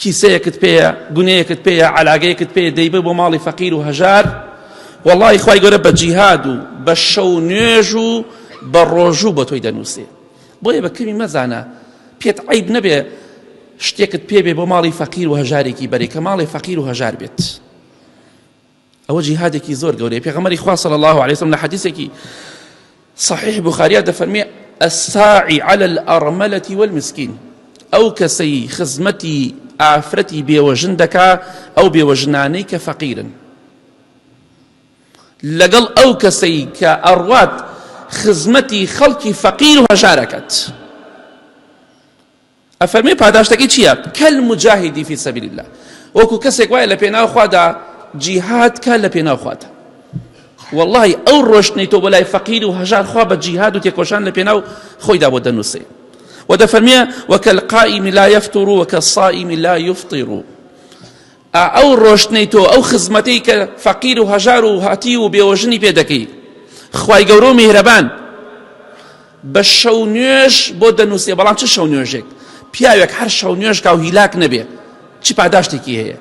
کیسەیەکت پێیە گونەیەکت پێیە عەلاگەیەکت پێیە دەیبەی بۆ ماڵی فەقیر و هەژار وەڵڵاهی خوای گەورە بە جیهاد و بە شەو نوێژ و بە ڕۆژوو بە تۆی دەنووسێ بۆیە بە کەمی مەزانە پێت عیب نەبێ شتێکت پێبێ بۆ ماڵی فەقیر و هەژارێکی بەرێ کە ماڵی فەقیر و هەژار بێت ئەوە جیهادێکی زۆر گەورەیە پێغەمبەری خوا صلی الله علیه وسلم لە حەدیثێکی صحیح بخاریا دەفەرمێ الساعی على الارملة والمسكين ئەو کەسەی خزمەتی ئافرەتی بێوەژن دەکا ئەو بێوەژنانەی کە فەقیرن لەگەڵ ئەو کەسەی کە ئەڕوات خزمەتی خەڵکی فەقیر و هەژارەکەت ئەفەرمێ پاداشتەکەی چییە؟ کەل موجاهیدی فی سەبیل اللە وەکو کەسێک وایە لە پێناو خوادا جیهاد کە لە پێناو خوادا واللهی ئەو ڕۆشتنی تۆ بۆ لای فەقیر و هەژار خوا بە جیهاد و تێکۆشان لە پێناو خۆیدا بۆ دەنووسێ و دەفەرمیە وەکە القائم لا يفتر وەکە الصائم لا يفطر ئا ئەو ڕۆشتنەی تۆ ئەو خزمەتەی کە فەقیر و هەژار و هەتیو و بێوەژنی پێ دەکەی خوای گەورە و میهرەبان بە شەو نوێژ بۆ دەنووسێ بەڵام چ شەو نوێژێک پیاوێک هەر شەو نوێژ کا و هیلاک نەبێ چی پاداشتێکی هەیە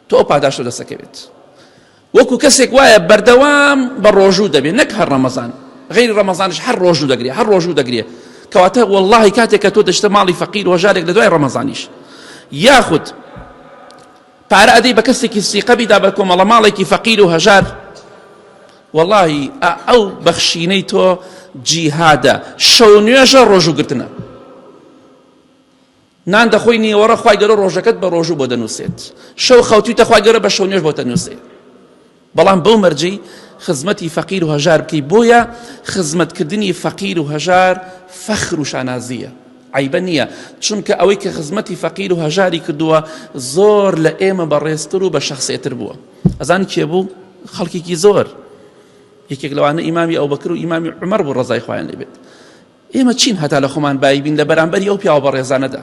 تۆ ئەو پاداشتە دەسەکەوێت وەکو کەسێک وایە بەردەوام بە ڕۆژوو دەبێت نەک هەر ڕەمەزان غیری ڕەمەزانش هەر ڕۆژوو دەگرێت هەر ڕۆژوو دەگرێت کەواتە واللهی کاتێک کە تۆ دەشتە ماڵی فەقیر وەژارێک لە دوای ڕەمەزانیش یاخود پارە ئەدەی بە کەسێکی سیقەبیدا بە کۆمەڵە ماڵێکی فەقیر و هەژار واللهی ئەو بەخشینەی تۆ جیهادە شەو نوێژە ڕۆژوو گرتنە نان دەخۆی نیوەڕۆ خوای گەورە ڕۆژەکەت بە ڕۆژوو بۆ دەنووسێت شەو خەوتویتە خوای گەورە بە شەو نوێژ بۆ تەنووسێت بەڵام بەو مەرجەی خزمەتی فەقیر و هەژار بکەی بۆیە خزمەتکردنی فەقیر و هەژار فەخر و شانازیە عیبە نییە چونکە ئەوەی کە خزمەتی فەقیر و هەژاری کردووە زۆر لە ئێمە بەڕێزتر و بە شخصێتر بووە ئەزان کێ بوو خەڵکێکی زۆر یەکێک لەوانە ئیمامی ئەوبەکر و ئیمامی عومەر بوو ڕەزای خوایان لێ بێت ئێمە چین هەتا لە خۆمان بایی بین لە بەرامبەری ئەو پیاوە بەڕێزانەدا